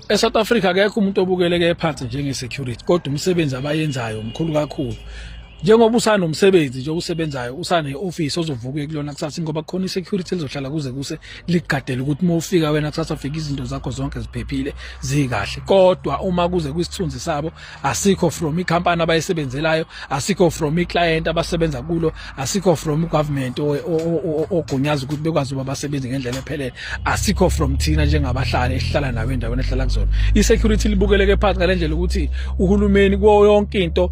eSouth Africa akekho umuntu obukeleke phansi njenge security kodwa umsebenzi abayenzayo mkhulu kakhulu njengoba usanomsebenzi nje osebenzayo usane office ozovuka kulona kusasa ngoba khona isecurity lizohlala kuze kuse ligadele ukuthi uma ufika wena kusasa fika izinto zakho zonke ziphephile zikahle kodwa uma kuze kwisithunzi sabo asikho from icompany abayisebenzelayo asikho from iclient abasebenza kulo asikho from government ogunyaza ukuthi bekwazi uba basebenze ngendlela ephelele asikho from thina njengabahlali esihlala nawo endaweni ehlala kuzona isecurity libukeleke phansi ngalendlela ukuthi uhulumeni kuwo yonke into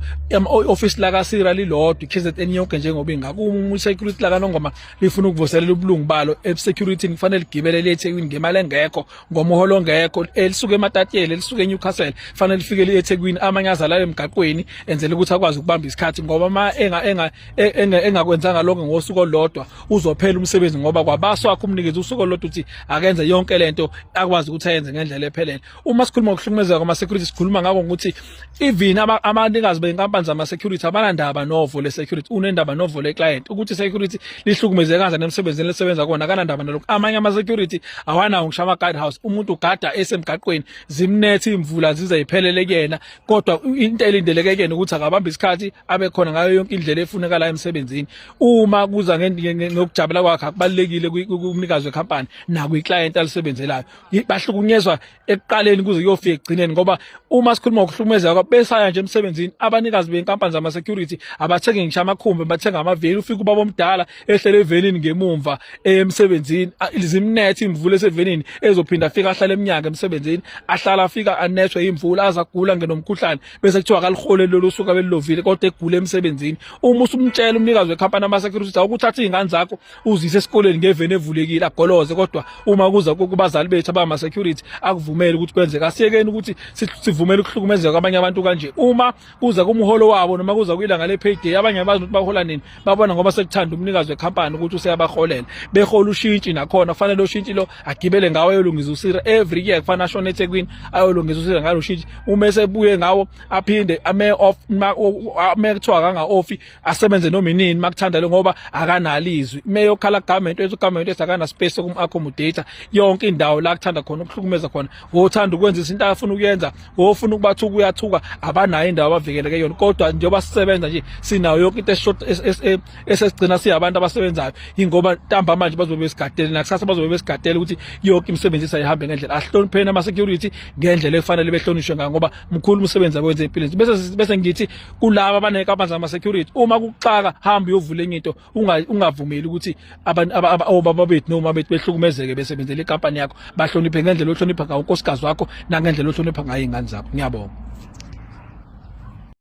office la kasira lilodwa iKZN yonke njengoba ingakuma isecurity la kanongoma lifuna ukuvuselela ubulungu balo ebusecurity kufanele ligibele le eThekwini ngemali engekho ngomoholo ongekho elisuke ematatiyeli elisuke eNewcastle fanele lifike liyeThekwini amanye azalale emgaqweni enzele ukuthi akwazi ukubamba isikhathi ngoba ma enga enga e, engakwenzanga lokho ngosuku olodwa uzophela umsebenzi ngoba kwabaso wakhe umnikezi usuku olodwa uthi akenze yonke lento akwazi ukuthi ayenze ngendlela ephelele uma sikhuluma ngokuhlukumezeka kwama security sikhuluma ngako ukuthi even abanikazi benkampani zama-security abanandaba novo le-security unendaba novo le-client ukuthi security lihlukumeze kanjani emsebenzini lisebenza kona akanandaba nalokhu amanye ama-security awanawo ngisho ama-guide house umuntu ugada esemgaqweni zimnethe iy'mvula zize yiphelele kuyena kodwa into elindeleke kuyena ukuthi akabambe isikhathi abe khona ngayo yonke indlela efunekalayo emsebenzini uma kuza ngokujabula kwakhe akubalulekile kumnikazi wekhampani nakwi-client alisebenzelayo bahlukunyezwa ekuqaleni kuze kuyofika ekugcineni ngoba uma sikhuluma ngokuhlukumezeka kwabo besaya nje emsebenzini abanikazi benkampani zama-security abathengi ngisho amakhumbi bathenga amaveli ufike ubaba omdala ehlele evenini ngemumva emsebenzini zimnethe imvula esevenini ezophinda afike ahlale emnyaka emsebenzini ahlala afika anethwe imvula aze agula ngenomkhuhlane bese kuthiwa kalihole lolu suka belilovile kodwa egule emsebenzini uma usumtshela umnikazi wekhampani ama-security ukuthi awukuthatha iy'ngane zakho uzise esikoleni ngeveni evulekile agoloze kodwa uma kuza kubazali bethu abama security akuvumeli ukuthi kwenzeka asiyekeni ukuthi sivumele ukuhlukumezeka kwabanye abantu kanje uma kuza kumholo wabo noma kuza kuyilanga le payday abanye abazi ukuthi bahola nini babona ngoba sekuthanda umnikazi wecompany ukuthi useyabaholela behola ushintshi nakhona kufanele ushintshi lo agibele ngawo ayolungisa usira every year kufanele ashone eThekwini ayolungisa usira ngalo shintshi uma esebuye ngawo aphinde ame off ame kuthiwa kanga offi asebenze noma inini makuthanda lo ngoba akanalizwi meyokhala government wethu government wethu akana space kum accommodate yonke indawo la kuthanda khona ukuhlukumeza khona wothanda ukwenza izinto afuna ukuyenza wofuna ukubathuka uyathuka abanayo indawo abavikeleke yona kodwa njengoba sisebenza nje sinayo yonke into eshort e, esesigcina siyabantu abasebenzayo ingoba ntamba manje bazobe besigadele nakusasa bazobe besigadele ukuthi yonke imisebenzi isayihambe ngendlela ahlonipheni ama security ngendlela efanele behlonishwe ngayo ngoba mkhulu umsebenzi abenze empilweni bese bese ngithi kulaba abanenkampani zama security uma kuxaka hamba uyovula enye into ungavumeli ukuthi obaba bethu noma bethu behlukumezeke besebenzela ikampani yakho bahloniphe ngendlela ohlonipha ngayo unkosikazi wakho nangendlela ohlonipha ngayo ingane zakho ngiyabonga